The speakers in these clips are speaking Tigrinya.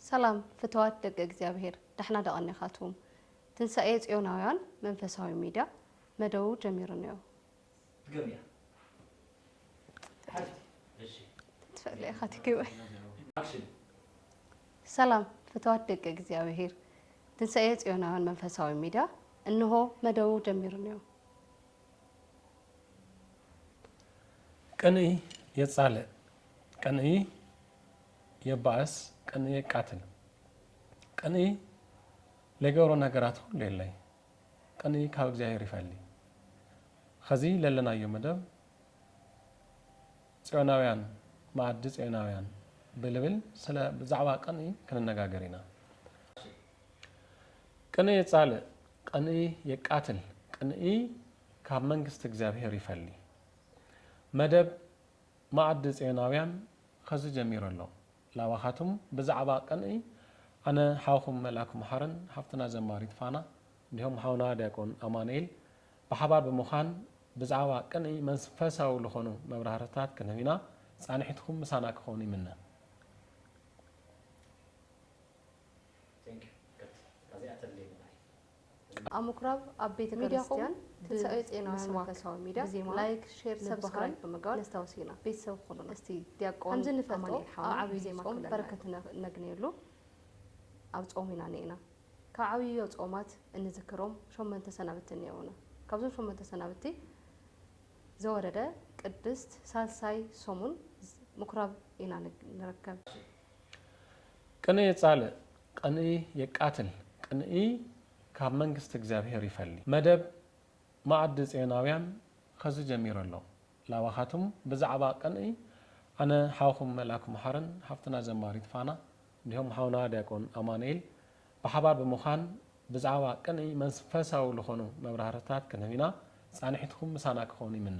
ሰላም ፍትዋት ደቂ እግዚኣብሔር ዳሕና ዶ ቀኒኻትዉም ትንሳኤ ጽዮናውያን መንፈሳዊ ሚድያ መደቡ ጀሚሩ እኒኦ። ትገብሪያ ሓፍቲ እሺ ትፈለየ ካቲግበ Action ሰላም ፍትዋት ደቂ እግዚኣብሔር ትንሳኤ ጽዮናውያን መንፈሳዊ ሚድያ እንሆ መደቡ ጀሚሩ እኒኦ። ቅንኢ የጻልእ ቅንኢ የባእስ ቅንኢ የቃትል ቅንኢ ለይገብሮ ነገራት ኹሉ የለይ ቅንኢ ካብ እግዚኣብሔር ይፈሊ ኸዚ ለለናዮ መደብ ጽዮናውያን መኣዲ ጽዮናውያን ብልብል ስለ ብዛዕባ ቅንኢ ክንነጋገር ኢና ቅንኢ የጻልእ ቅንኢ የቃትል ቅንኢ ካብ መንግስቲ እግዚኣብሔር ይፈሊ መደብ መኣዲ ጽዮናውያን ኸዚ ጀሚሩ ኣሎ ላባኻትም ብዛዕባ ቅንኢ ኣነ ሓውኹም መልኣክ መሓርን ሓፍትና ዘማሪት ፋና እንዲሁም ሓውና ዲያቆን ኣማኑኤል ብሓባር ብምዃን ብዛዕባ ቅንኢ መንፈሳዊ ልኾኑ መብራህርህታት ክንህብ ኢና ጻንሒትኩም ምሳና ክኾን ይምነ። Thank you ቀጥል እታ እዚኣ ተድልየኒ ንዓይ። ኣብ ምኩራብ ኣብ ቤተ ክርስትያን ትንሳኤ ጼና መንፈሳዊ ሚድያ ላይክ ሼር ሰብስክራይብ ብምግባር ነስታውስ ኢና ቤተሰብ ኩኑና እስቲ ዲያቆን ከምዚ ንፈልጦ ኣብ ዓብይ ዜማ ጾም በረከት እነግንየሉ ኣብ ጾም ኢና ኔና ካብ ዓብዮ ጾማት እንዝክሮም ሾመንተ ሰናብቲ እኔውና ካብዞም ሾመንተ ሰናብቲ ዘወረደ ቅድስት ሳልሳይ ሰሙን ምኩራብ ኢና ንርከብ። ቅኔ ጻልእ ቕንኢ የቃትል ቅንኢ ካብ መንግስቲ እግዚኣብሔር ይፈሊ። መደብ መኣዲ ጽዮናውያን ኸዚ ጀሚሩ ኣሎ ላባኻትም ብዛዕባ ቅንኢ ኣነ ሓውኹም መልኣክ መሓርን ሓፍትና ዘማሪት ፋና እንዲሁም ሓውና ዲያቆን ኣማኑኤል ብሓባር ብምዃን ብዛዕባ ቅንኢ መንፈሳዊ ልኾኑ መብራህርህታት ክንህብ ኢና ጻንሒትኩም ምሳና ክኾን ይምነ።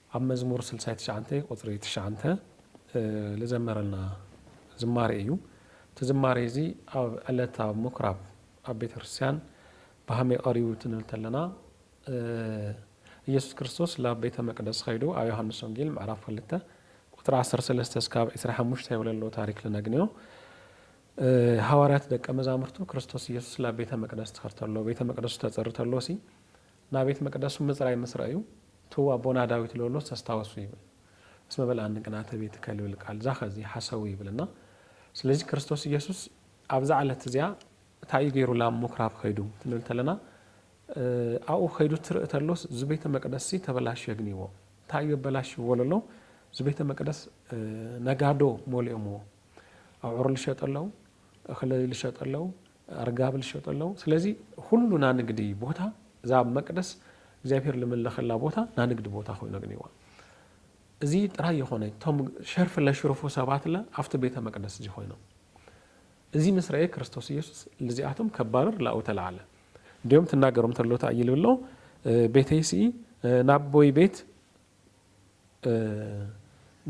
ኣብ መዝሙር ስልሳይ ትሽዓንተይ ቁጽሪ ትሽዓንተ ልዘመረልና ዝማሬ እዩ። እቲ ዝማሬ እዚ ኣብ ዕለት ኣብ ምኩራብ ኣብ ቤተክርስቲያን ብሃመይ ቀሪቡ ትንብል ተለና እየሱስ ክርስቶስ ላብ ቤተ መቅደስ ኸይዱ ኣብ ዮሐንስ ወንጌል ምዕራፍ ክልተ ቁጽሪ ዓሰርተ ሰለስተ እስካብ ዕስራ ሓሙሽተ የውለሎ ታሪክ ልነግንዮ ሃዋርያት ደቀ መዛሙርቱ ክርስቶስ እየሱስ ላብ ቤተ መቅደስ ትኸርተሎ ቤተ መቅደሱ ተጽርተሎሲ ናብ ቤት መቅደሱ ምጽራይ ምስ ረኣዩ፣ ትው ኣቦና ዳዊት ለሎስ ተስታወሱ ይብል። እስመ በልዓኒ ቅንኣተ ቤትከ ልብል ቃል ዛከዚ ሓሰዊ ይብል እና ስለዚ ክርስቶስ ኢየሱስ ኣብዛ ዕለት እዚኣ እታይ እዩ ገይሩ ላብ ሙክራብ ከይዱ ክንብል ተለና ኣብኡ ከይዱ ትርእ ተሎስ ዝቤተ መቅደስሲ ተበላሽዮ ግንይዎ እታይ እዩ ኣበላሽዎ ለሎ ዝቤተ መቅደስ ነጋዶ ሞሊኦምዎ ኣውዕሩ ልሸጡ ኣለው እክሊ ልሸጡ ኣለው ኣርጋብል ዝሸጡ ኣለዉ ስለዚ ኹሉ ናንግዲ ቦታ እዛ ኣብ መቅደስ እግዚኣብሔር ልምለኸላ ቦታ ናንግዲ ቦታ ኮይኑ ኣግኒዋ እዚ ጥራይ የኾነይ እቶም ሸርፊ ለሽርፉ ሰባት ለ ኣብቲ ቤተ መቅደስ እዚ ኮይኖም እዚ ምስ ረኤ ክርስቶስ ኢየሱስ ልዚኣቶም ከባርር ላኡ ተለዓለ እንዲኦም ትናገሮም ተሎታ እይልብሎ ቤተይስኢ ናቦይ ቤት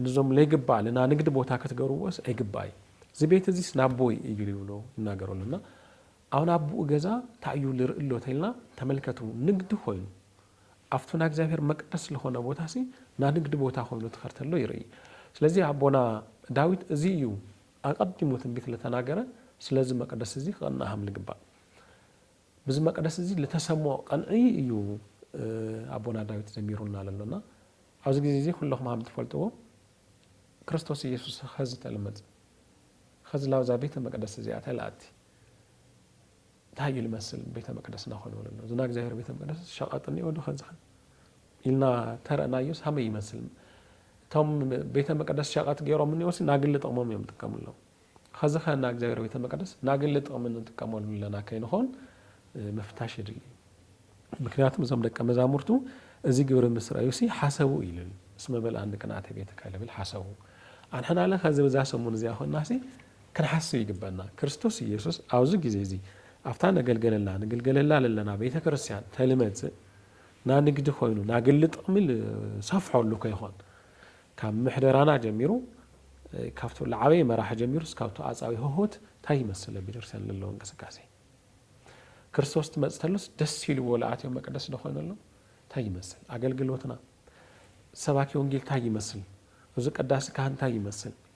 ንዞም ለይግባእ ልናንግድ ቦታ ክትገርዎስ ኣይግባይ ዝቤት እዚስ ናቦይ እዩ ልብሎ ይናገሮ ኣሎ እና ኣሁን ኣቡኡ ገዛ ታዩ ልርኢ ኣሎ ተልና ተመልከቱ ንግዲ ኮይኑ ኣፍቱ ናእግዚኣብሔር መቅደስ ልኾነ ቦታሲ ናንግድ ቦታ ኮይኑ ትኸርተሎ ይርኢ ስለዚ ኣቦና ዳዊት እዚ እዩ ኣቀዲሙ ትንቢት ልተናገረ ስለዚ መቅደስ እዚ ክቅናሃም ልግባእ ብዚ መቅደስ እዚ ልተሰምዖ ቐንዒ እዩ ኣቦና ዳዊት ዘሚሩልና ለሎ እና ኣብዚ ግዜ እዚ ኩለኹም ሃም ትፈልጥዎ ክርስቶስ ኢየሱስ ኸዚ ተልመጽ ኸዚ ላብዛ ቤተ መቅደስ እዚኣ ተልኣቲ እንታይ እዩ ልመስል ቤተ መቅደስና ኾኑ ለሎ ዝና እግዚኣብሔር ቤተ መቅደስ ሸቐጥ እኒኦ ዶ ኸዝኸን ኢልና ተረእናዮስ ሃመይ ይመስል እቶም ቤተ መቅደስ ሸቐት ገይሮም እኒኦሲ ናግሊ ጥቕሞም እዮም ጥቀምሎም ኸዚ ከ እና እግዚኣብሔር ቤተ መቅደስ ናግሊ ጥቅሚ ንጥቀመሉ ኣለና ከይንኾን ምፍታሽ የድሊ ምክንያቱም እዞም ደቀ መዛሙርቱ እዚ ግብሪ ምስ ረእዩሲ ሓሰቡ ኢልል እስመ መልኣኒ ቅንኣተ ቤትከ ልብል ሓሰቡ ኣንሕናለ ኸዚ ብዛ ሰሙን እዚኣ ኮናሲ ክንሓስብ ይግበና ክርስቶስ ኢየሱስ ኣብዚ ጊዜ እዚ ኣብታ ነገልገለላ ንግልገለላ ለለና ቤተ ክርስቲያን ተልመጽእ ናንግዲ ኮይኑ ናግሊ ጥቅሚ ልሰፍሖሉ ከይኾን ካብ ምሕደራና ጀሚሩ ካብቱ ልዓበየ መራሒ ጀሚሩ እስካብ ተኣጻዊ ህሆት ታይ ይመስል ኣብ ቤተክርስትያን ለለዎ እንቅስቃሴ ክርስቶስ ትመጽ ተሎስ ደስ ኢልዎ ልኣትዮ መቅደስ ዶ ኮይኑ ኣሎ ታይ ይመስል ኣገልግሎትና ሰባኪ ወንጌል ታይ ይመስል እዚ ቀዳሲ ካህን ታይ ይመስል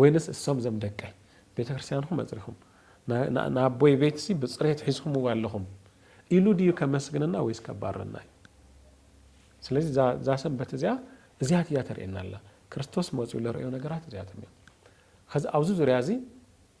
ወይንስ እሶም ዘም ደቀይ ቤተክርስትያንኹም ኣጽሪኹም ንኣቦይ ቤትሲ ብጽሬት ሒዝኹምዎ ኣለኹም ኢሉ ድዩ ከመስግነና ወይስ ከባረና እዩ ስለዚ እዛ ሰንበት እዚኣ እዚያት እያ ተርእየና ኣላ ክርስቶስ መፅኡ ለርእዮ ነገራት እዚኣቶም እዮም ከዚ ኣብዚ ዙርያ እዚ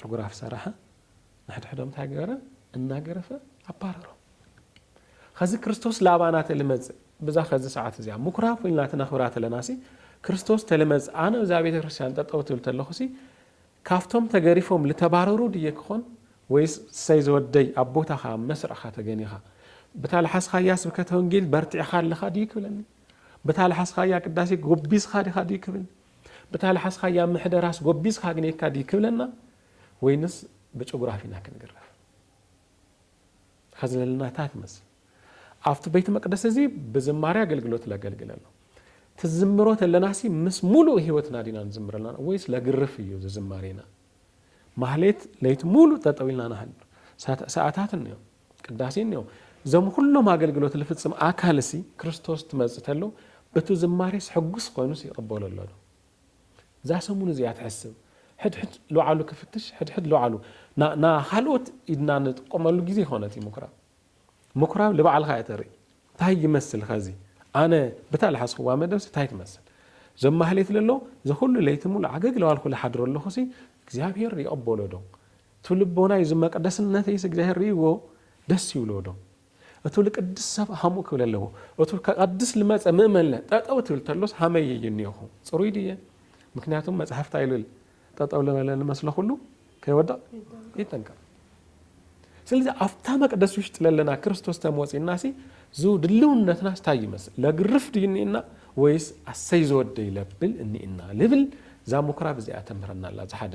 ፎቶግራፍ ሰራሐ ንሕድሕዶም ታይ ገበረ እናገረፈ ኣባረሮም ኸዚ ክርስቶስ ላባና ተልመጽእ ብዛ ኸዚ ሰዓት እዚኣ ምኩራብ ኮይንና ተነኽብራ ተለናሲ ክርስቶስ ተልመጽእ ኣነ እዛ ቤተ ክርስቲያን ጠጠው ትብል ተለኹሲ ካብቶም ተገሪፎም ልተባረሩ ድየ ክኾን ወይስ ሰይ ዘወደይ ኣብ ቦታኻ መስርዕኻ ተገኒኻ ብታ ልሓስኻያ ስብከተ ወንጌል በርቲዕኻ ኣለኻ ድዩ ክብለኒ ብታ ልሓስኻያ ቅዳሴ ጎቢዝኻ ዲኻ ድዩ ክብልኒ ብታ ልሓስኻያ ምሕደራስ ጎቢዝካ ኣግኒየካ ድዩ ክብለና ወይንስ ብጭጉራፍ ኢና ክንግረፍ ኸዝለልና እታ ትመስል ኣብቲ ቤት መቅደስ እዚ ብዝማሬ ኣገልግሎት ለገልግል ኣሎ ትዝምሮ ተለናሲ ምስ ሙሉእ ህይወትና ዲና ንዝምር ኣለና ወይስ ለግርፍ እዩ ዝዝማሬና ማህሌት ለይቲ ሙሉእ ጠጠው ኢልና ንሃድር ሰዓታት እንዮም ቅዳሴ እኒኦ እዞም ኹሎም ኣገልግሎት ልፍጽም ኣካልሲ ክርስቶስ ትመጽእ ተሎ እቱ ዝማሬስ ሕጉስ ኾይኑስ ይቕበሎ ኣሎዶ እዛ ሰሙን እዚኣ ትሕስብ ሕድሕድ ልውዓሉ ክፍትሽ ሕድሕድ ልውዓሉ ና ኻልኦት ኢድና ንጥቀመሉ ጊዜ ኾነት እዩ ምኩራብ ምኩራብ ልባዕልኻ እየ ተርኢ እንታይ ይመስል ኸዚ ኣነ ብታ ልሓስኹዋ መደብሲ እንታይ ትመስል እዞም ማህሌት ለሎ ዘኹሉ ለይቲ ሙሉ ዓገግ ለዋልኩ ልሓድሮ ኣለኹሲ እግዚኣብሔር ይቕበሎዶ እቱ ልቦናይ እዙ መቅደስነተይስ እግዚኣብሔር ርእይዎ ደስ ይብልዎ ዶ? እቱ ልቅድስ ሰብእ ሃምኡ ክብል ኣለዎ። እቱ ከቀድስ ልመጸ ምእመንለ ጠጠው ትብል ተሎስ ሃመይ እየ እኒኦኹ? ጽሩይ ድየ? ምክንያቱም መጽሐፍ ታይ ልብል ጠጠው ልበለ ልመስሎ ኩሉ ከይወድቅ ይጠንቀቅ። ስለዚ ኣብታ መቅደስ ውሽጢ ለለና ክርስቶስ ተመወጺእናሲ ዙ ድልውነትናስ ታይ ይመስል? ለግርፍ ድዩ እኒእና ወይስ ኣሰይ ዝወደይ ለብል እኒእና? ልብል እዛ ምኩራብ እዚኣ ተምህረና ኣላ። እዙ ሓደ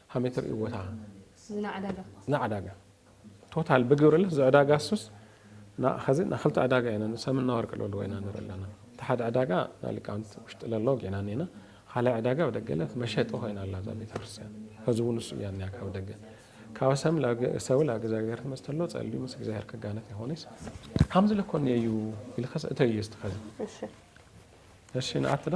ከመይ ትርእይዎ እታ ንዕዳጋ ቶታል ብግብርለስ ዝዕዳጋ ሱስ ናኸዚ ናክልተ ዕዳጋ ኢና ንሰምን ናወርቂ ለለዎ ኢና ንርኢ ኣለና እቲ ሓደ ዕዳጋ ናሊቃውንቲ ውሽጢ ለለዎ ጌና ኔና ካልኣይ ዕዳጋ ብደገለት መሸጢ ኮይና ኣላ እዛ ቤተክርስትያን ከዚ እውን ንሱ እያ ኒያ ካብ ደገ ካብ ሰም ሰው ላብ እግዚኣብሔር ትመስተ ኣሎ ጸልዩ ምስ እግዚኣብሔር ክጋነት ይኾነስ ከምዚ ለኮን እዩ ኢልከስ እተዩ እስቲ ከዚ እሺ ንኣትዶ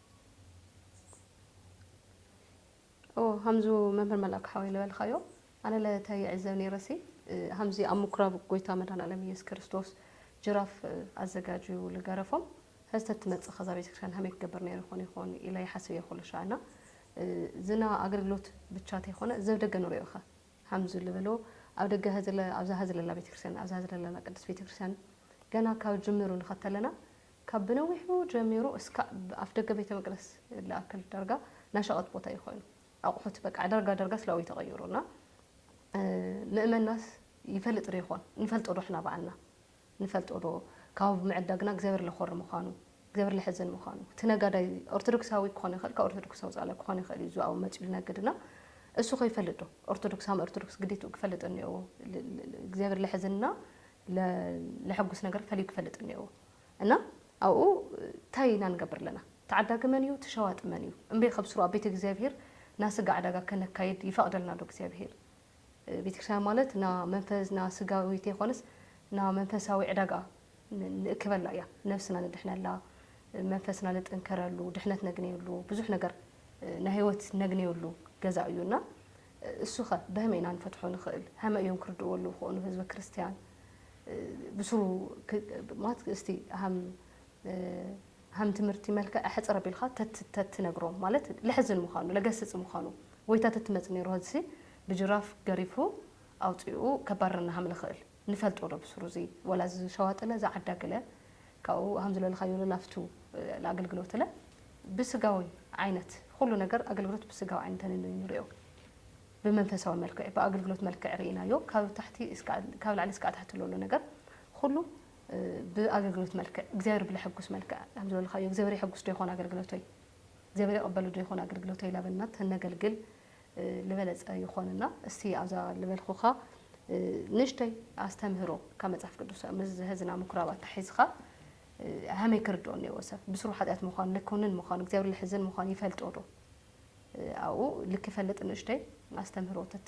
ሃምዙ መምህር መላኩ ሓወይ ልበልካዮ ኣነ ለታይ ይዕዘብ ነይረሲ ሃምዚ ኣብ ምኩራብ ጎይታ መድሃን ኣለም ኢየሱስ ክርስቶስ ጅራፍ ኣዘጋጅዩ ልገረፎም ህዝተ ትመፅእ ከዛ ቤተክርስቲያን ሃመይ ክገብር ነይሩ ይኾን ይኾን ኢለ ይሓስብ እየ ኩሉ ሻዕና ዝና ኣገልግሎት ብቻ ተይኮነ ዘብ ደገ ንሪኦ ኸ ሃምዚ ልበሎ ኣብ ደገ ኣብዛ ህዝለላ ቤተክርስቲያን ኣብዛ ህዝለላ ቅዱስ ቤተክርስቲያን ገና ካብ ጅምሩ ንኸተለና ካብ ብነዊሑ ጀሚሩ እስካብ ኣፍደገ ቤተ መቅደስ ልኣክል ዳርጋ ናሸቀጥ ቦታ እዩ ኮይኑ ኣቁሑት በቃ ዳርጋ ዳርጋ ስላው እዩ ተቀይሩ እና ምእመናስ ይፈልጥ ዶ ይኮን ንፈልጦ ዶ ሕና ባዕልና ንፈልጦ ዶ ካብ ምዕዳግና እግዚኣብሔር ለኮሪ ምኳኑ እግዚኣብሔር ለሕዝን ምኳኑ እቲ ነጋዳይ ኦርቶዶክሳዊ ክኮን ይክእል ካብ ኦርቶዶክስ ወፃኢ ክኮን ይክእል እዩ እዙ መፅኡ ልነግድ እና እሱ ከይፈልጥ ዶ ኦርቶዶክስ ሃም ኦርቶዶክስ ግዴትኡ ክፈልጥ እኒኦዎ እግዚኣብሔር ለሕዝን እና ለሐጉስ ነገር ፈልዩ ክፈልጥ እኒኦዎ እና ኣብኡ ታይ ኢና ንገብር ኣለና ተዓዳጊ መን እዩ ትሸዋጢ መን እዩ እምበይ ከብስሩ ኣብ ቤተ እግዚኣብሔር ና ስጋ ዕዳጋ ከነካይድ ይፈቅደልና ዶ እግዚኣብሔር ቤተክርስቲያን ማለት ና መንፈስ ና ስጋዊ ተይኮነስ ና መንፈሳዊ ዕዳጋ ንእክበላ እያ ነብስና ንድሕነላ መንፈስና ንጥንከረሉ ድሕነት ነግነየሉ ብዙሕ ነገር ናይ ህይወት ነግነየሉ ገዛ እዩ እና እሱኸ በህመይ ኢና ንፈትሖ ንኽእል? ሀመ እዮም ክርድእዎ ኣለዉ ክኾኑ ህዝበ ክርስቲያን ብሱሩ ማለት እስቲ ሀም ሀም ትምህርቲ መልከዕ ሕጽር ኣቢልካ ተትነግሮም ማለት ለሕዝን ምዃኑ ለገስጽ ምዃኑ ጎይታ ተትመጽእ ነይሩ ሀዝሲ ብጅራፍ ገሪፉ ኣውጺኡ ከባርረና ሀም ልኽእል ንፈልጦ ዶ ብሱሩ እዚ ወላ እዚ ሸዋጥለ እዚ ዓዳግለ ካብኡ ሃምዝለልኻዮ ለላፍቱ ለኣገልግሎትለ ብስጋዊ ዓይነት ኹሉ ነገር ኣገልግሎት ብስጋዊ ዓይኒ ተንንዩ እንሪኦ ብመንፈሳዊ መልክዕ ብኣገልግሎት መልክዕ ርኢናዮ ካብ ታሕቲ ካብ ላዕሊ እስካዕ ታሕቲ ለሎ ነገር ኹሉ ብኣገልግሎት መልክዕ እግዚኣብሔር ብለሐጉስ መልክዕ ሃምዝለልኻዮ እግዚኣብሔር የሐጉስ ዶ ይኾን ኣገልግሎተይ እግዚኣብሔር የቐበሉ ዶ ይኾን ኣገልግሎተይ ላበልና ተነገልግል ልበለጸ ይኾን እና እስቲ ኣብዛ ልበልኩኻ ንእሽተይ ኣስተምህሮ ካብ መጽሓፍ ቅዱስ ምስ ዝህዝና ምኩራብ ኣታሒዝኻ ሃመይ ክርድኦ እኒዎ ሰብ ብስሩ ሓጢኣት ምዃኑ ልኮንን ምዃኑ እግዚኣብሔር ልሕዝን ምዃኑ ይፈልጦ ዶ ኣብኡ ልክፈልጥ ንእሽተይ ኣስተምህሮ ተት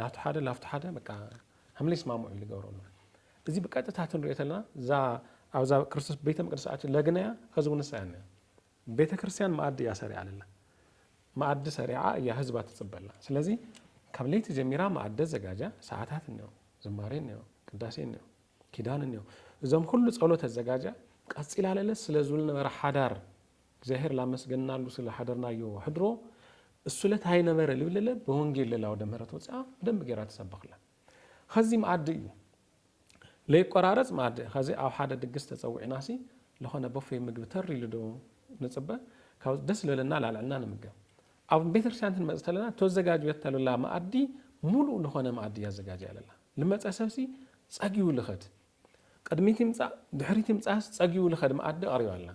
ናቱ ሓደ ናፍቱ ሓደ በቃ ሃምለይስማምዑ ልገብሮ ኣሎ እዚ ብቀጥታ ትንሪኦ ተለና እዛ ኣብዛ ክርስቶስ ቤተ መቅደስ ኣቲ ለግነያ ከዚ እውን ንሳ እያ ቤተ ክርስቲያን መኣዲ እያ ሰሪዓ ኣለላ መኣዲ ሰሪዓ እያ ህዝባ ትፅበላ ስለዚ ካብ ለይቲ ጀሚራ መኣዲ ዘጋጃ ሰዓታት እኒኦ ዝማሬ እኒኦ ቅዳሴ እኒኦ ኪዳን እንዮ እዞም ኩሉ ጸሎት ኣዘጋጅያ ቀጺላ ለለስ ስለ ዝብል ነበረ ሓዳር እግዚኣብሔር ላመስገንናሉ ስለ ሓደርናዮ ሕድሮ እሱለት ኣይነበረ ልብልለ በወንጌል ለላ ወደ ምህረት ወጽኣ ብደንብ ገይራ ተሰበኽላ ኸዚ መኣዲ እዩ ለይቆራረጽ መኣዲ ኸዚ ኣብ ሓደ ድግስ ተጸዊዕናሲ ለኾነ ቦፌ ምግቢ ተር ኢሉ ዶ ንጽበ ካብ ደስ ለለና ላልዕልና ንምገብ ኣብ ቤተክርስቲያን ክንመጽ ተለና ተዘጋጅዮት ተለላ መኣዲ ሙሉእ ልኾነ መኣዲ እያ ኣዘጋጅያ ለላ። ልመጸ ሰብሲ ጸጊቡ ልኸድ። ቅድሚት ይምጻእ ድሕሪት ይምጻእስ ጸጊቡ ልኸድ መኣዲ ኣቕሪባ ኣላ።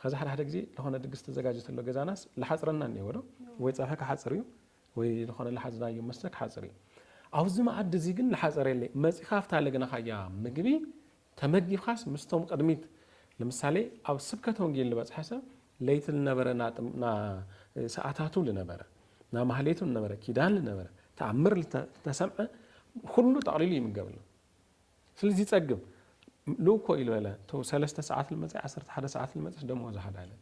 ኸዚ ሓደ ሓደ ግዜ ልኾነ ድግስ ተዘጋጅ ተሎ ገዛናስ ልሓጽረና እኒኤዎ ዶ? ወይ ጸብሒ ክሓጽር እዩ ወይ ልኾነ ልሓዝናዮ መስተ ክሓጽር እዩ። ኣብዚ መኣዲ እዚ ግን ልሓጸር የለይ። መጺኻ ኣብታ ለግናኻያ ምግቢ ተመዲብካስ ምስቶም ቅድሚት ልምሳሌ ኣብ ስብከተ ወንጌል ልበጽሐ ሰብ ለይቲ ልነበረ ና ሰኣታቱ ልነበረ ና ማህሌቱ ልነበረ ኪዳን ልነበረ ተኣምር ልተሰምዐ ኩሉ ጠቕሊሉ ይምገብ ኣሎ ስልዚ ይጸግብ ልኡኮ ኢሉ በለ ቶ ሰለስተ ሰዓት ልመጸ ዓሰርተ ሓደ ሰዓት ልመጸስ ደሞዝ ሓደ ዓይነት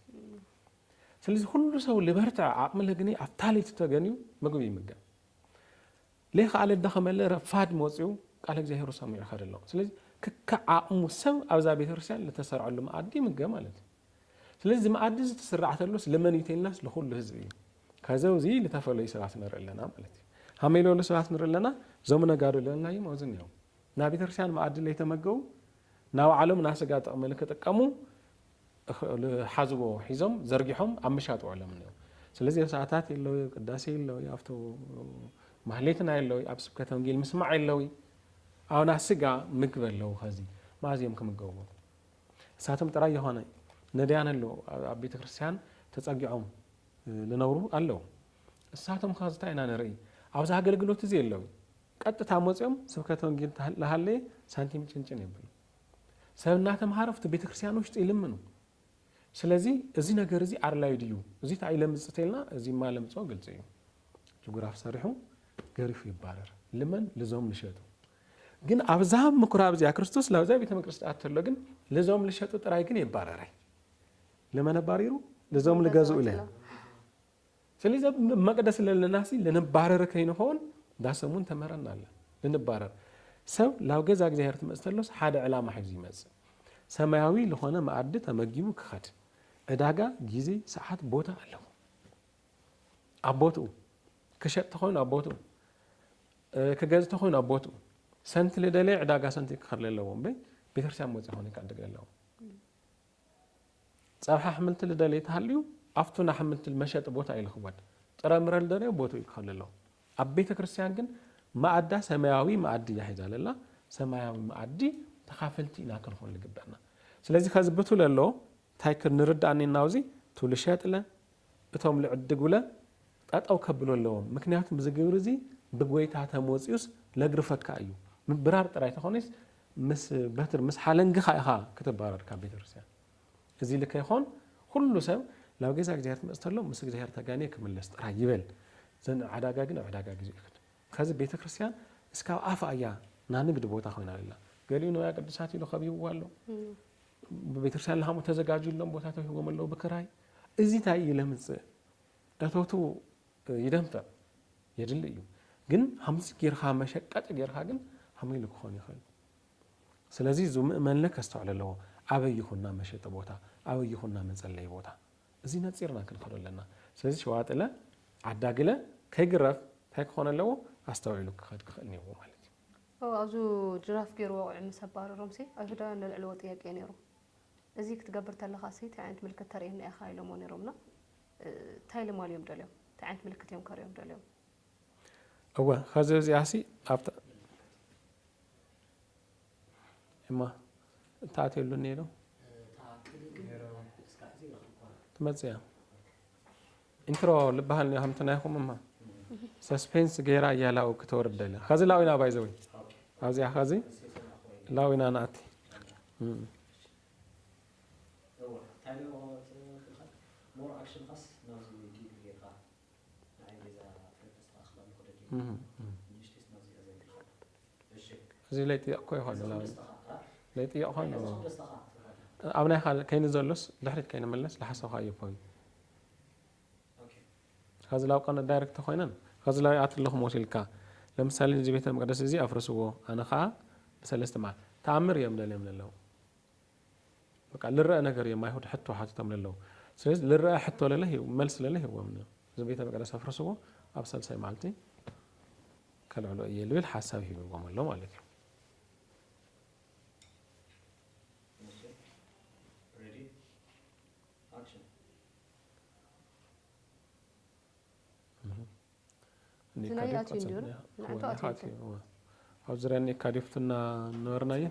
ስለዚ ኩሉ ሰብ ልበርትዐ ዓቕሚ ለግኒ ኣብታ ለይቲ ተገንዩ ምግቢ ይምገብ ለይክኣለ ደኸመለ ረፋድ መጺኡ ቃለ እግዚኣብሔሩ ሰሚዑ ይኸድ ኣሎ ስለዚ ክካዕ ዓቕሙ ሰብ ኣብዛ ቤተክርስትያን ልተሰርዐሉ መኣዲ ይምገብ ማለት እዩ ስለዚ እዚ መኣዲ እዚ ትስራዕ ተሎስ ልመን እዩ ተይልናስ ልኹሉ ህዝቢ እዩ ከዚ እዚ ልተፈለዩ ሰባት ንርኢ ኣለና ማለት እዩ ሃመይ ለሉ ሰባት ንርኢ ኣለና እዞም ነጋዶ ለናይም ኣብዚ እኒኦም ናብ ቤተክርስትያን መኣዲ ለይተመገቡ ናባዕሎም ናስጋ ጥቕሚ ልክጥቀሙ ዝሓዝዎ ሒዞም ዘርጊሖም ኣብ ምሻጥ ውዕሎም እኒኦ ስለዚ ኣብ ሰዓታት የለዊ ኣብ ቅዳሴ የለዊ ኣብቶ ማህሌትና የለዊ ኣብ ስብከተ ወንጌል ምስማዕ የለዊ ኣውና ስጋ ምግብ ኣለዉ ከዚ ማዚ እዮም ክምገብዎ እሳቶም ጥራይ የኾነ ነዳያን ኣለዉ ኣብ ቤተ ክርስቲያን ተጸጊዖም ዝነብሩ ኣለዉ እሳቶም ከ ዝታይ ኢና ንርኢ ኣብዚ ኣገልግሎት እዚ የለዊ ቀጥታ መፅኦም ስብከተ ወንጌል ዝሃለየ ሳንቲም ጭንጭን የብሉ ሰብ እናተምሃረ ኣብቲ ቤተ ክርስቲያን ውሽጢ ይልምኑ። ስለዚ እዚ ነገር እዚ ኣርላዩ ድዩ እዚ ታይ ለምፅ ተልና እዚ ማ ለምፆ ግልፂ እዩ ጅጉራፍ ሰሪሑ ገሪፉ ይባረር ልመን ልዞም ልሸጡ ግን ኣብዛ ምኩራብ እዚኣ ክርስቶስ ላብዛ ቤተ መቅደስ ዳኣ ተሎ ግን ልዞም ልሸጡ ጥራይ ግን የባረራይ ልመን ኣባሪሩ ልዞም ልገዝኡ ለ ሰሊዚ ኣብ መቅደስ ለለናሲ ልንባረር ከይንኾን ዳሰሙን ተምህረና ኣላ ልንባረር ሰብ ላብ ገዛ እግዚኣብሔር ትመጽ ተሎስ ሓደ ዕላማ ሒዙ ይመጽእ ሰማያዊ ልኾነ መኣዲ ተመጊቡ ክኸድ ዕዳጋ ጊዜ ሰዓት ቦታ ኣለዎ ኣብ ቦትኡ ክሸጥ ተኾይኑ ኣብ ቦትኡ ክገዝ ተኾይኑ ኣብ ቦትኡ ሰንቲ ልደለየ ዕዳጋ ሰንቲ ክኸድ ለለዎ እምበይ ቤተክርስቲያን መጽ ኾነ ይካድግ ለለዎ ጸብሒ ኣሕምልቲ ልደልይ ተሃልዩ ኣፍቱ ናሕምልቲ መሸጢ ቦታ እዩ ልኽወድ። ጥረምረ ልደለዮ ቦትኡ ይትኸል ኣሎ። ኣብ ቤተ ክርስቲያን ግን መኣዳ ሰማያዊ መኣዲ እያ ሒዛ ለላ። ሰማያዊ መኣዲ ተኻፈልቲ ኢና ክንኾን ልግበእና። ስለዚ ከዚ ብቱ ለሎ ታይ ክንርዳእ ኔናውዚ ቱ ልሸጥለ እቶም ልዕድጉለ ጠጠው ከብሎ ኣለዎም ምክንያቱ እዚ ግብሪ እዚ ብጎይታ ተመወጺኡስ ለግርፈካ እዩ ምብራር ጥራይ ተኾነይስ ምስ በትር ምስ ሓለንግኻ ኢኻ ክትባረር ካብ ቤተክርስቲያን እዚ ኢሊ ከይኾን ኩሉ ሰብ ናብ ገዛ እግዚኣብሔር ትመጽእ ተሎ ምስ እግዚኣብሔር ተጋንየ ክምለስ ጥራይ ይበል ዘን ዓዳጋ ግን ኣብ ዕዳጋ ግዚኡ ይክድ ከዚ ቤተክርስቲያን እስካብ ኣፋ እያ ናይ ንግድ ቦታ ኮይና ኣላ ገሊኡ ንዋያ ቅዱሳት ኢሉ ከቢብዋ ኣሎ ብቤተክርስቲያን ለሃሙ ተዘጋጅዩሎም ቦታ ተውሂቦም ኣለዉ ብክራይ እዚ ታይ እዩ ለምፅእ እቶቱ ይደንፍዕ የድሊ እዩ ግን ሃምዚ ጌርካ መሸቀጢ ጌርካ ግን ሃመይ ኢሉ ክኾን ይኽእል ስለዚ እዙ ምእመንለ ከስተውዕል ኣለዎ ኣበይ ይኹና መሸጢ ቦታ ኣበይ ይኹና መፀለይ ቦታ እዚ ነፂርና ክንኸዶ ኣለና ስለዚ ሸዋጥለ ዓዳግለ ከይግረፍ እንታይ ክኾን ኣለዎ ኣስተውዒሉ ክኸድ ክኽእል ነይዎ ማለት እዩ ኣብዙ ጅራፍ ገይሩ ወቂዑ ምስ ኣባረሮም ሲ ኣይሁዳውያን ለልዕልዎ ጥያቄ ነይሩ እዚ ክትገብር ተለኻሲ ታይ ዓይነት ምልክት ተርእየና ኢኻ ኢሎሞ ነይሮምና ታይ ልማልዮም ደልዮም ታይ ዓይነት ምልክት እዮም ከርእዮም ደልዮም። እወ ኸዚ እዚኣሲ ኣብታ እማ እንታይ ኣትየሉኒ ኢሎም ትመፅእ እያ። ኢንትሮ ልባሃል ኒዮ ሃምቲ ናይኹም እማ ሰስፔንስ ገይራ እያ ላው ክተወርድ ደልያ ኸዚ ላው ኢና ባይ ዘወይ ኣብዚኣ ኸዚ ላው ኢና ንኣቲ እዚ ለይጥየቕ ኮ ይኾን ላው ለይጥየቕ ኾን ኣብ ናይኻ ከይኒ ዘሎስ ድሕሪት ከይንመለስ ዝሓሰብኻዮ ፖይንት ኸዚ ላብቃ ንዳይረክት ተኾይነን ኸዚ ላብይ ኣቲ ኣለኹም ወሲልካ ለምሳሌ እዚ ቤተ መቅደስ እዚ ኣፍርስዎ ኣነ ኸኣ ብሰለስተ መዓልቲ ተኣምር እዮም ደልዮም ለለው በቃ ልረኣ ነገር እዮም ኣይሁድ ሕቶ ሓቲቶም ለለው ስለዚ ልረኣ ሕቶ ለለ መልሲ ለለ ሂዎም ነዮም እዚ ቤተ መቅደስ ኣፍርስዎ ኣብ ሳልሳይ መዓልቲ ከልዕሎ እየ ልብል ሓሳብ ሂብዎም ኣሎ ማለት እዩ ኣብ ዙሪያ እኒ ካዲፍት እና ነበርናየ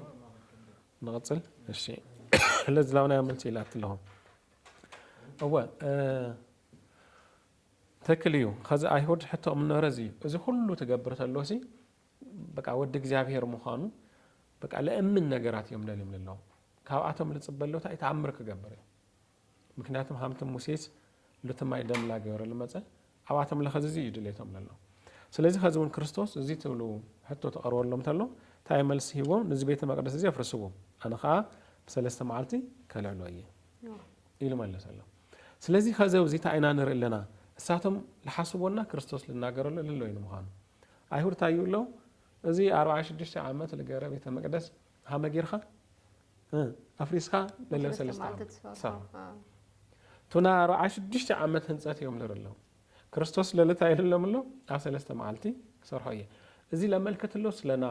ንቕፅል እሺ ስለዚ ላብናዮ መልሲ ኢላቲ ኣለኹ እወ ትክክል እዩ ከዚ ኣይሁድ ሕቶኦም ነበረ እዚ እዩ እዚ ኩሉ ትገብር ተሎ ሲ በቃ ወዲ እግዚኣብሔር ምዃኑ በቃ ለእምን ነገራት እዮም ደልዮም ለለዉ ካብኣቶም ልጽበሎ ታይ ተኣምር ክገብር እዩ ምክንያቱም ሃምቲ ሙሴስ ልትማይ ደምላ ገበረ ልመጸ ኣብኣቶም ለኸዝዚ እዩ ድሌቶም ለለዉ ስለዚ ከዚ እውን ክርስቶስ እዚ ትብሉ ሕቶ ተቐርበሎም ተሎ ታይ መልሲ ሂቦ ንዚ ቤተ መቅደስ እዚ ኣፍርስዎ ኣነ ከዓ ብሰለስተ መዓልቲ ከልዕሎ እየ ኢሉ መለሰሎም ስለዚ ከዚ ኣብዚ ታይ ኢና ንርኢ ኣለና እሳቶም ልሓስቦና ክርስቶስ ልናገረሉ ለሎ እዩ ንምዃኑ ኣይሁድ ታይ ይብለው እዚ ኣርብዓን ሽዱሽተ ዓመት ልገረ ቤተ መቅደስ ሃመ ጊርካ ኣፍሪስካ ለለ ሰለስተ ዓመት ትሰርሖ ቱና ኣርብዓ ሽዱሽተ ዓመት ህንፀት እዮም ልርለው ክርስቶስ ለልታ ይልሎም ኣሎ ኣብ ሰለስተ መዓልቲ ክሰርሖ እየ እዚ ለመልከት ኣሎ ስለና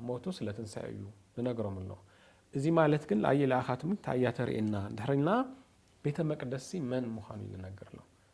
ሞቱ ስለ ትንሳኤ እዩ ንነግሮም ኣሎ እዚ ማለት ግን ኣየ ለኣኻትም እንታይ እያ ተርእየና ድሕሪልና ቤተ መቅደሲ መን ምዃኑ እዩ ልነግር ኣሎ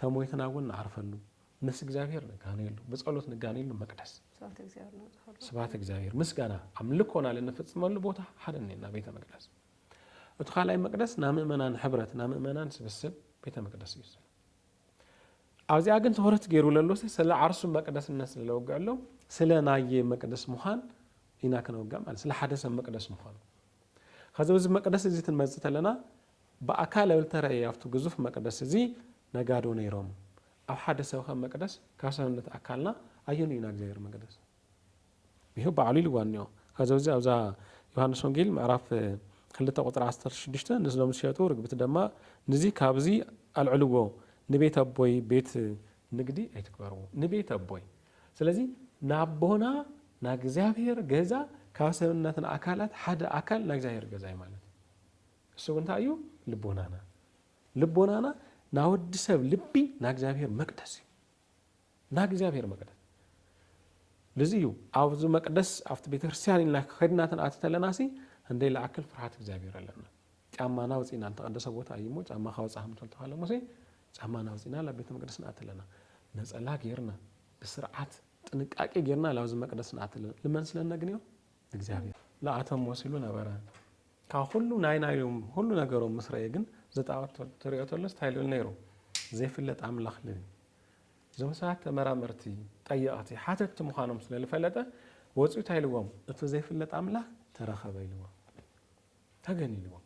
ተሞይትና እውን ንዓርፈሉ ምስ እግዚኣብሔር ንጋነየሉ ብጸሎት ንጋነየሉ መቅደስ ስብሐት እግዚአብሔር ንብጽሐሉ ስብሐት እግዚኣብሔር ምስጋና ኣምልኮና ልንፍጽመሉ ቦታ ሓደ እኔና ቤተ መቅደስ እቲ ካልኣይ መቅደስ ናይ ምእመናን ሕብረት ናይ ምእመናን ስብስብ ቤተ መቅደስ እዩ ዝስለ ኣብዚኣ ግን ትኩረት ገይሩ ለሎሲ ስለ ዓርሱ መቅደስነት ስለለወግዐሎም ስለ ናየ መቅደስ ምዃን ኢና ክነወግዕ ማለት ስለ ሓደ ሰብ መቅደስ ምዃኑ ከዚ እዚ መቅደስ እዚ ትንመጽእ ተለና ብኣካል እተረእየ ኣብቲ ግዙፍ መቅደስ እዚ ነጋዶ ነይሮም ኣብ ሓደ ሰብ ከ መቅደስ ካብ ሰብነት ኣካልና ኣየኑ እዩ ናይ እግዚኣብሔር መቅደስ ይህ ባዕሉ ኢልዋ እኒኦ ከዚ እዚ ኣብዛ ዮሃንስ ወንጌል ምዕራፍ ክልተ ቁፅሪ ዓሰርተ ሽዱሽተ ንስሎም ዝሸጡ ርግብቲ ደማ ንዚ ካብዚ ኣልዕልዎ ንቤት ኣቦይ ቤት ንግዲ ኣይትግበርዎ ንቤት ኣቦይ ስለዚ ናቦና ናይ እግዚኣብሔር ገዛ ካብ ሰብነትና ኣካላት ሓደ ኣካል ናይ እግዚኣብሔር ገዛ እዩ ማለት እሱ ግን እንታይ እዩ ልቦናና ልቦናና ናወዲ ሰብ ልቢ ናእግዚኣብሔር መቅደስ እዩ ናእግዚኣብሔር መቅደስ ልዚ እዩ ኣብዚ መቅደስ ኣብቲ ቤተክርስትያን ኢልና ከድና ተንኣት ተለና ሲ እንደይ ለኣክል ፍርሓት እግዚኣብሔር ኣለና ጫማ ናውፅእና ዝተቀደሰ ቦታ እዩ ሞ ጫማ ካወፃ ከምተልተካለ ሞሲ ጫማ ናውፅእና ብ ቤተ መቅደስ ንኣት ኣለና ነፀላ ጌርና ብስርዓት ጥንቃቄ ጌርና ላብዚ መቅደስ ንኣት ኣለና ልመን ስለነግንዮ እግዚኣብሔር ለኣቶም ወሲሉ ነበረ ካብ ኩሉ ናይ ናዮም ሁሉ ነገሮም ምስ ረኤ ግን ዝጣዖት ትሪኦ ተሎስ እንታይ ልብል ነይሩ ዘይፍለጥ ኣምላኽ ልብል እዞም ሰባት ተመራመርቲ ጠየቕቲ ሓተትቲ ምዃኖም ስለ ዝፈለጠ ወፂኡ እንታይ ኢልዎም እቲ ዘይፍለጥ ኣምላኽ ተረኸበ ኢልዎም ተገን ኢልዎም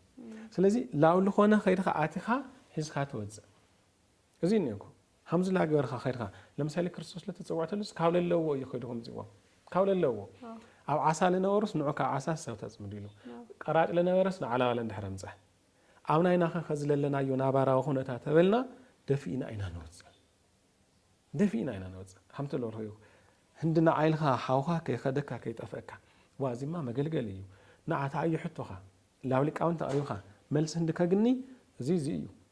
ስለዚ ላብ ዝኾነ ከይድካ ኣቲኻ ሒዝካ ትወፅእ እዚ እኒኦኩም ከምዚ ናገበርካ ከድካ ለምሳሌ ክርስቶስ ለተጸውዕተሉስ ካብ ለለዎ እዩ ከይዱ ከምጽዎም ካብ ለለዎ ኣብ ዓሳ ልነበሩስ ንዑ ካብ ዓሳ ሰብ ተጽምዱ ኢሉ ቀራጭ ለነበረስ ንዓላባ ለንድሕረ ምጸ ኣብ ናይናኸ ከዚ ለለናዮ ናባራዊ ኩነታ ተበልና ደፊእና ኢና ንወጽእ ደፊእና ኢና ንወጽእ ከምቲ ለርሆዩ ህንዲ ንዓ ኢልካ ሓውካ ከይከደካ ከይጠፈእካ ዋ እዚማ መገልገሊ እዩ ንዓ ተዓዩ ሕቶኻ ላብ ሊቃውንቲ ኣቕሪብካ መልሲ ህንዲ ከግኒ እዚ እዚ እዩ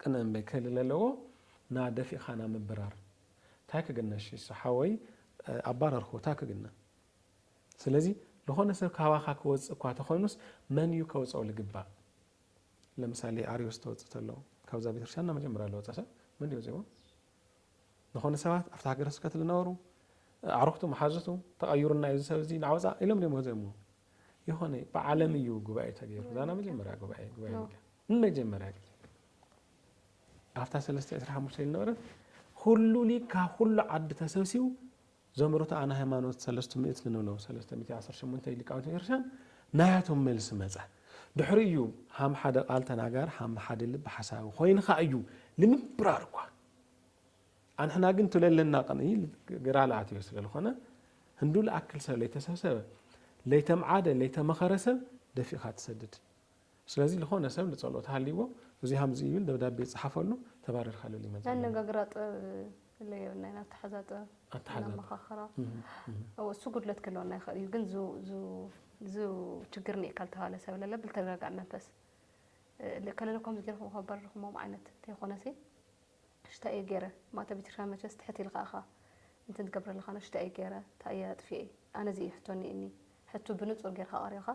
ቅነ እምበይ ክህሊ ለለዎ ና ደፊእኻ ና ምብራር ታይ ክግነ እሺ እሱ ሓወይ ኣባረርክዎ ታይ ክግነ ስለዚ ልኾነ ሰብ ካባኻ ክወፅእ እኳ ተኾይኑስ መን እዩ ከውፀኦ ልግባእ ለምሳሌ ኣርዮስ ተወፅእ ተሎ ካብዛ ቤተክርስትያን እና መጀመርያ ለወፀ ሰብ መን እዩ ወፂእዎ ልኾነ ሰባት ኣብቲ ሃገረ ስብከት ልነበሩ ኣዕሩኽቱ መሓዙቱ ተቐዩርና እዩ እዚ ሰብ እዚ ናወፃእ ኢሎም ድዮም ወፂኦምዎ ይኾነ እዩ ብዓለም እዩ ጉባኤ ተገይሩ ዛና መጀመርያ ጉባኤ ጉባኤ ሚድያ ንመጀመርያ ግዜ ኣብታ ሰለስተ ዕስራ ሓሙሽተ ዝነበረት ኩሉ ሊግ ካብ ኩሉ ዓዲ ተሰብሲቡ ዘምሮት ኣነ ሃይማኖት ሰለስቱ ምእት ንብሎም ሰለስተ ሚእቲ ዓሰርተ ሸሞንተ ሊቃውንቲ ቤተክርስትያን ናያቶም መልሲ መፀ ድሕሪ እዩ ሃም ሓደ ቃል ተናጋር ሃም ሓደ ልቢ ሓሳቢ ኮይንካ እዩ ንምብራር እኳ ኣንሕና ግን ቱለለና ቅንይል ግራል ኣትዮ ስለልኾነ ህንዱ ልኣክል ሰብ ለይተሰብሰበ ለይተምዓደ ለይተመኸረ ሰብ ደፊእኻ ትሰድድ ስለዚ ልኾነ ሰብ ልጸሎት ሃልይዎ እዙይ ሃምዚ ይብል ደብዳቤ ይጽሓፈሉ ተባረርካ ልል ይመጽእ ኣለና። ኣነጋግራ ጥበብ እለ የብልና ኢና ኣተሓዛ ጥበብ ኣተሓዛ ነመኻኽራ እወ እሱ ጉድለት ክህልወና ይኽእል እዩ ግን ዙ ዙ ዙ ችግር ኒኤ ካልተባለ ሰብ ለለ ብልተረጋጋእ መንፈስ እ፣ ከለለኮም ዝገርኹም ከበርኹሞም ዓይነት ተይኮነሲ እሽ ታይ እየ ገይረ ማእተብ ቤተክርስትያን መቸስ ትሕት ኢልካ እኻ እንትን ትገብረለኻን እሽ ታይ እየ ገይረ ታይ እየ ኣጥፊኤ ኣነ እዙይ እዩ ሕቶ እኒኤኒ ሕቱ ብንፁር ገይርካ ኣቅሪብካ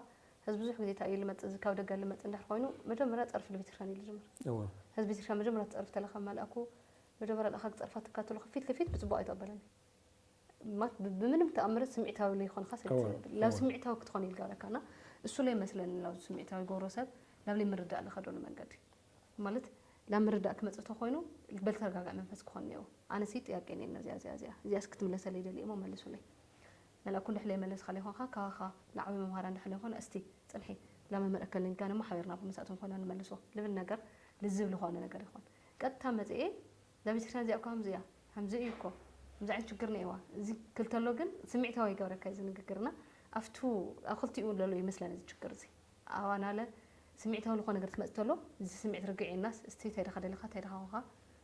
ህዝቢ ብዙሕ ግዜ ታይ እዩ ልመፅእ እዙይ ካብ ደገ ልመፅእ እንድሕር ኾይኑ መጀመርያ ፀርፊ ልቤተክርስትያን እዩ ልጅምር እወ ህዝቢ ቤተክርስትያን መጀመርያ ትፀርፊ ተለኻ መልኣኩ መጀመርያ ልኣኻ ክፀርፋ ትካተሉ ፊት ልፊት ብፅቡቅ ኣይተቀበለን እዩ ማት ብምንም ተኣምር ስምዒታዊ ለይኾንኻ ሰብ እወ ትብል ላብ እወ ስምዒታዊ ክትኾን እዩ ልገብረካ እና እሱ ለይመስለኒ ላብ ስምዒታዊ ጎሮ ሰብ ላብ ለይምርዳእ ልኸደሉ መንገዲ ማለት ናብ ምርዳእ ክመጽእ ተኾይኑ በልተረጋጋእ መንፈስ ክኾን እኒኦዎ። ኣነሲ ጥያቄ እኒኤና እዚኣ እዚኣ እዚኣ እዚኣስ ክትምለሰለይ ይደሊ እሞ መልሱለይ። መላ ኩንድሕር ለይመለስኻለይ ኾንካ ካባኻ ልዓቢ መምሃር ኣንድሕር ለይኾነ እስቲ ጽንሒ ላመ ምረከልኒ ጋን እሞ ሓቢርና እባ መሳእቶም ኮይና ንመልሶ ልብል ነገር ልዝብ ልኾነ ነገር ይኾን። ቀጥታ መጺኤ እዛ ቤተክርስትያን እዚኣ እኮ ከምዚ እያ ከምዚ እዩ እኮ ከምዚ ዓይነት ሽግር እኒኤዋ እዚ ክል ተሎ ግን ስሚዕታዊ ይገብረካ እዚ ንግግርና ኣፍቱ ኣብ ክልቲኡ ለሎ ይመስለኒ እዚ ሽግር እዚ። ኣዋናለ ስሚዒታዊ ልኾነ ነገር ትመጽእ ተሎ እዚ ስሚዒት ርግዕ ኢልናስ እስቲ ታይ ድኻ ደሊኻ ታይ ድኻ ኮንካ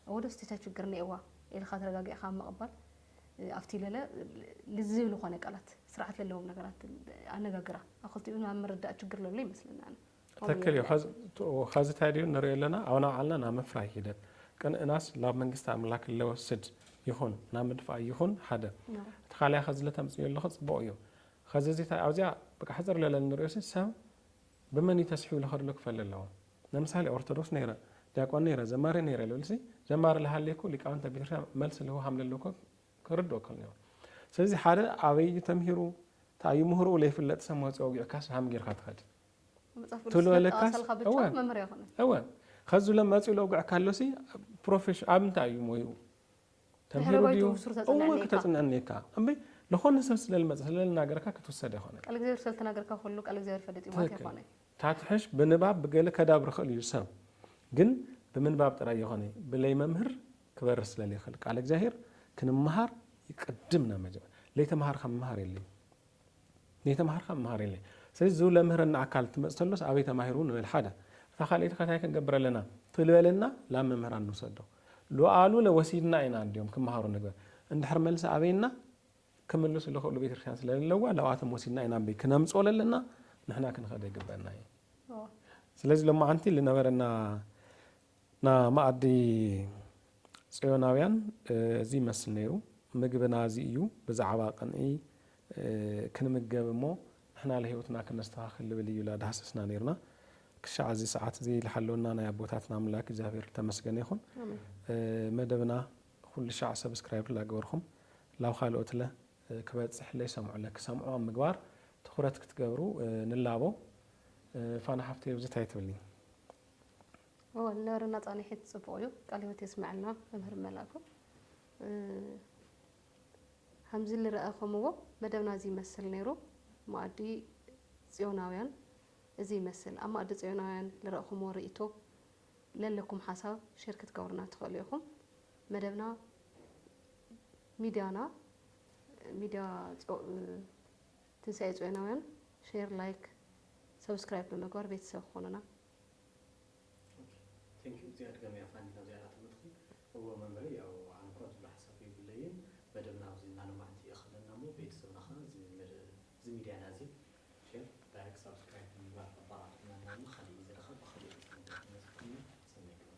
እወ ዶስ ታይ ችግር እኔኤዋ ኢልኻ ተረጋጊዕኻ ኣብ ምቕባል ኣብቲ ለለ ልዝብ ልኾነ ቃላት ስርዓት ለለዎም ነገራት ኣነጋግራ ኣብ ክልቲኡ ናብ ምርዳእ ችግር ለሎ ይመስለኒ ኣነ ትክክል እዩ ኸዚ ታይ ድዩ ንሪኦ ኣለና ኣውና ባዕልና ናብ ምፍራይ ሂደት ቅንእናስ ላብ መንግስቲ ኣምላክ ለወስድ ይኹን ናብ ምድፋእ ይኹን ሓደ እቲ ኻሊኣ ኸዚ ለተምጽእዮ ኣለኺ ጽቡቕ እዩ ኸዚ እዚ ታይ ኣብዚኣ በቃ ሕጽር ለለ እንርእዮሲ ሰብ ብመን እዩ ተስሒቡ ልኸድሉ ክፈሊ ኣለዎ ነምሳሌ ኦርቶዶክስ ነይረ ዲያቆን ነይረ ዘማሪ ነይረ ልብልሲ ዘማሪ ልሃልይኩ ሊቃውንተ ቤተክርስቲያን መልሲ ልህቡ ሃም ለለዎ ክርድኦ ከልኒዎ ስለዚ ሓደ ኣበይ እዩ ተምሂሩ ታይ እዩ ምህርኡ ለይፍለጥ ሰብ መጽዩ ኣውጊዕካሲ ሃም ጌርካ ትኸድ መጽሓፍ ቅዱስ ትብሎ ለካስ ዘጠቐሰልካ ብቻ እወ መምህር ኣይኮነን እወ ኸዚ ለ መጽዩ ለውግዕካ ኣሎሲ ፕሮፌሽ ኣብ እንታይ እዩ ሞይኡ ተምሂሩ ድዩ እወ ክተፅንዕ እኒኤካ እምበይ ልኾነ ሰብ ስለልመፀ ስለልናገረካ ክትውሰድ ኣይኮነን ቃል እግዚኣብሔር ስለልተናገርካ ኩሉ ቃል እግዚኣብሔር ይፈልጥ እዩ ማለት ኣይኮነይ ታትሕሽ ብንባብ ብገለ ከዳብር ይኽእል እዩ ሰብ ግን ብምንባብ ጥራይ የኾነይ ብለይ መምህር ክበርህ ስለልይኽል ቃል እግዚኣብሔር ክንመሃር ይቅድም ናብ መጀመ ለይተምሃርካ ምምሃር የለይ ለይተምሃርካ ምምሃር የለይ ስለዚ ዝብ ለምህረና ኣካል ትመፅ ተሎስ ኣበይ ተማሂሩ ንበል ሓደ እታ ካልኣይቲ ከታይ ክንገብር ኣለና ትልበለና ላብ መምህራን ንውሰዶ ሉኣሉለ ወሲድና ኢና እንድዮም ክመሃሩ ንግበር እንድሕር መልሲ ኣበይና ክምልሱ ልክእሉ ቤተክርስትያን ስለለዋ ላብኣቶም ወሲድና ኢና እምበይ ክነምፅኦ ለለና ንሕና ክንኸደ ይግበእና እዩ ስለዚ ሎማዓንቲ ልነበረና ና ማኣዲ ፅዮናውያን እዚ ይመስል ነይሩ ምግብና እዚ እዩ ብዛዕባ ቅንኢ ክንምገብ እሞ ንሕና ለህይወትና ክነስተኻኽል ልብል እዩ ኢላ ዳህሰስና ነርና ክሻዕ እዚ ሰዓት እዚ ልሓለወና ናይ ኣቦታትና ኣምላክ እግዚኣብሔር ልተመስገነ ይኹን መደብና ኹልሻዕ ሰብስክራይብ ላገበርኹም ላብ ኻልኦት ለ ክበጽሕ ለይሰምዑ ለ ክሰምዑ ኣብ ምግባር ትኹረት ክትገብሩ ንላቦ ፋና ሓፍተይ ኣብዚ ታይ ትብሊ እወ ነርና ጻኒሒት ጽቡቅ እዩ ቃል ህይወት የስመዐልና መምህር መላኩ ሀምዚ ልረኣኸምዎ መደብና እዚ ይመስል ነይሩ ማኣዲ ፅዮናውያን እዚ ይመስል ኣብ ማኣዲ ፅዮናውያን ልረእኹምዎ ሪኢቶ ለለኩም ሓሳብ ሼር ክትገብሩና ትኽእሉ ኢኹም መደብና ሚድያና ሚድያ ትንሳኤ ፅዮናውያን ሼር ላይክ ሰብስክራይብ ብምግባር ቤተሰብ ክኾኑና Thank you ዝያድ ገበያ ፋኒ ናብ ዝያዳ ተመጥኺ እወ መምህረይ ያው ኣነ እኳ ዝብሎ ሓሳብ የብለይን መደብና ኣብዚ እናለማዕቲ የኸለና እሞ ቤተሰብና ኸኣ እዚ እዚ ሚድያና እዚ ሼር ላይክ ሳብስክራይብ ብምግባር ኣባራቱና እናበልና ኻሊእ ግዜ ደኻ ብኻሊእ ርኢቶ ክንመፅእ ኢና ሰናይ ገበያ።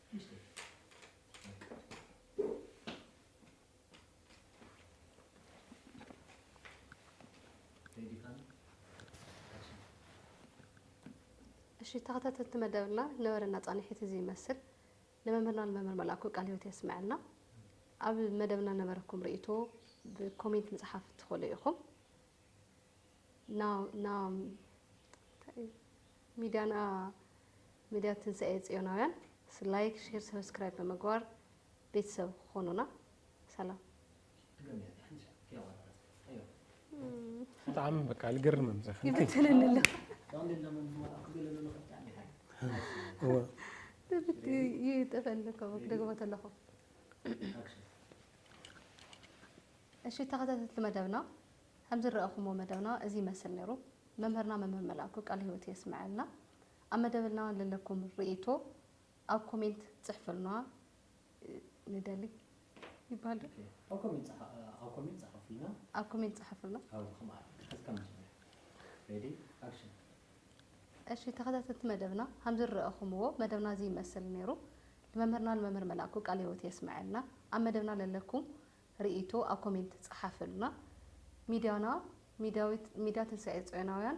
እሺ ተኸታተልቲ መደብና ነበረና ፃንሒት እዚ ይመስል ንመምህርና ንመምህር መልኣኩ ቃል ህይወት የስምዐልና ኣብ መደብና ነበረኩም ርእቶ ብኮሜንት ምፅሓፍ ትኽእሉ ኢኹም ና ና ሚድያና ሚድያ ትንሳኤ ፅዮናውያን ላይክ ሼር ሰብስክራይብ ብምግባር ቤተሰብ ኾኑና ሰላም ብጣዕሚ በቃ ልገርምም ይብትንንለ ይጠፈልከ ክደግሞ ተለኹ እሺ ተኸታተልቲ መደብና ከምዝረኣኹሞ መደብና እዚ ይመስል ነይሩ መምህርና መምህር መላእኩ ቃል ህይወት የስምዐልና ኣብ መደብና ለለኩም ርእይቶ ኣብ ኮሜንት ጽሕፍልና ንደሊ ይባል ዶ ኣብ ኮሜንት ኣብ ኮሜንት ጻሓፉልና ኣብ ኮሜንት ጻሓፉልና ኣብ ከማኣ ሕዝካ መጀመርያ ሬዲ ኣክሽን እሺ ተኸታተልቲ መደብና ከም ዝረኣኹምዎ መደብና እዚ ይመስል ነይሩ ንመምህርና ንመምህር መላኩ ቃል ህይወት የስመዐልና ኣብ መደብና ለለኩም ርእይቶ ኣብ ኮሜንት ጻሓፍልና ሚድያና ሚድያ ትንሳኤ ጽዮናውያን